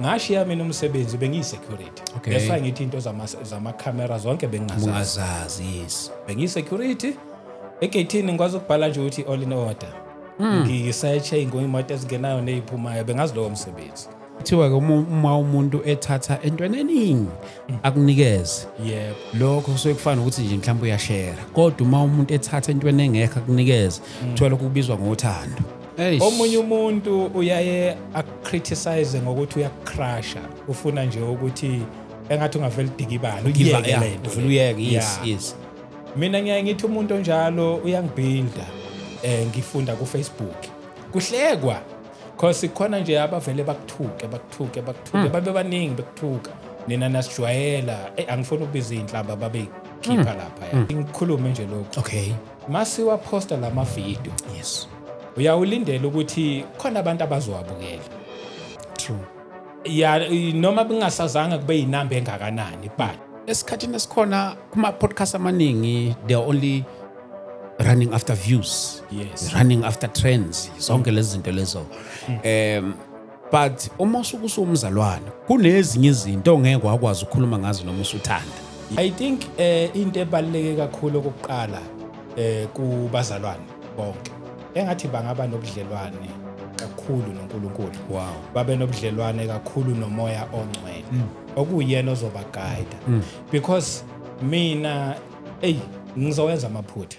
ngashiya mina umsebenzi bengiyi-security okay. that's why ngithi into zamakhamera zama zonke bengingazazi yes bengiyi-security egeyithini ngikwazi ukubhala nje ukuthi all in order mm. ngiyiseche ngoyimoto ezingenayo neyiphumayo bengazi lowo msebenzi kuthiwa-ke uma umuntu ethatha entweni eningi akunikeze yebo lokho kusuke kufana ukuthi nje mhlawumbe uyashera kodwa uma umuntu ethatha entweni engekho akunikeze kuthiwa lokho kubizwa ngothando Eish. omunye umuntu uyaye akucriticize ngokuthi uyakucrasha ufuna nje ukuthi engathi ungavele udikibala Give up, uyeke yeah, le nto uvele le. uyeke yes Yeah. yes mina ngiyaye ngithi umuntu onjalo uyangibuilda eh ngifunda ku Facebook kuhlekwa cause khona nje abavele bakuthuke bakuthuke bakuthuke babe baningi bekuthuka nina nasijwayela eh angifuni ukubiza inhlamba babe khipha lapha ya ngikhulume nje lokho okay masiwa posta lama video yes uyawulindela ukuthi khona abantu abazowabukela true ya noma kungasazanga kube yinamba engakanani but esikhathini esikhona kuma podcast amaningi they are only running after views yes running after trends zonke lezi zinto lezo um but uma usuke usumzalwane kunezinye izinto ongeke wakwazi ukukhuluma ngazo noma usuthanda i think eh into ebaluleke kakhulu okokuqala eh kubazalwane bonke engathi bangaba nobudlelwane kakhulu noNkulunkulu wow babe nobudlelwane kakhulu nomoya ongcwele mm. okuyena ozoba guide mm. because mina hey ngizowenza amaphutha